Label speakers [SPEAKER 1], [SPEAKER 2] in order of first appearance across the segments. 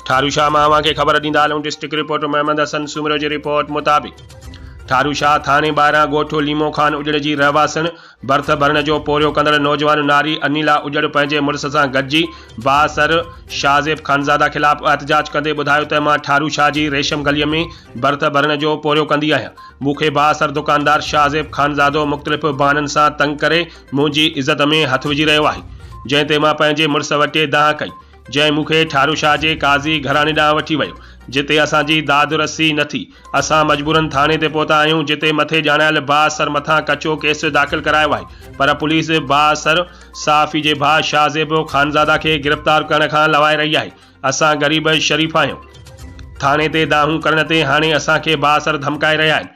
[SPEAKER 1] ٺارو شاهه مان اوهان کي خبر ڏيندا هلون ڊسٽرڪٽ رپورٽر محمد حسن سومرو جي رپورٽ مطابق ٺارو شاهه ٿاڻي ٻاهران ڳوٺ ليمو خان اجڙ جي رهواسڻ برٿ ڀرڻ جو پورهيو ڪندڙ نوجوان ناري انيلا اجڙ پنهنجي مڙس سان گڏجي بااثر شاهزيب خانزاده خلاف احتجاج ڪندي ٻڌايو ته مان ٺارو شاهه جي ريشم گلي ۾ برٿ ڀرڻ جو پورهيو ڪندي آهيان مون کي بااثر دڪاندار شاهزيب خانزادو مختلف بهانن سان تنگ ڪري منهنجي عزت ۾ هٿ وجهي رهيو آهي جنهن تي مان پنهنجي مڙس وٽي دانهن ڪئي جنهن مون کي ٺارو شاهه جي قاضي گهراڻي ڏانهن وٺي ويو، جتي اسان جي داد رسي نه ٿي. اسان مجبورن ٿاڻي تي پهتا آهيون، جتي مٿي ڄاڻايل ڀاء سر مٿان ڪچو ڪيس داخل ڪرايو آهي، پر پوليس ڀاء سر، صحافي جي ڀاء شاهه زيب خانزاده کي گرفتار ڪرڻ کان لوائي رهي آهي. اسان غريب شريف آهيون. ٿاڻي تي دانهون ڪرڻ تي هاڻي اسان کي ڀاء سر ڌمڪائي رهيا آهن.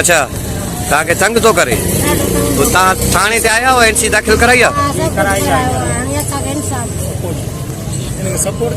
[SPEAKER 2] اچھا
[SPEAKER 3] تان کي تنگ تو ڪري تان ٿاڻي تي آيا هو اين سي داخل ڪرائي ها
[SPEAKER 4] سپورٽ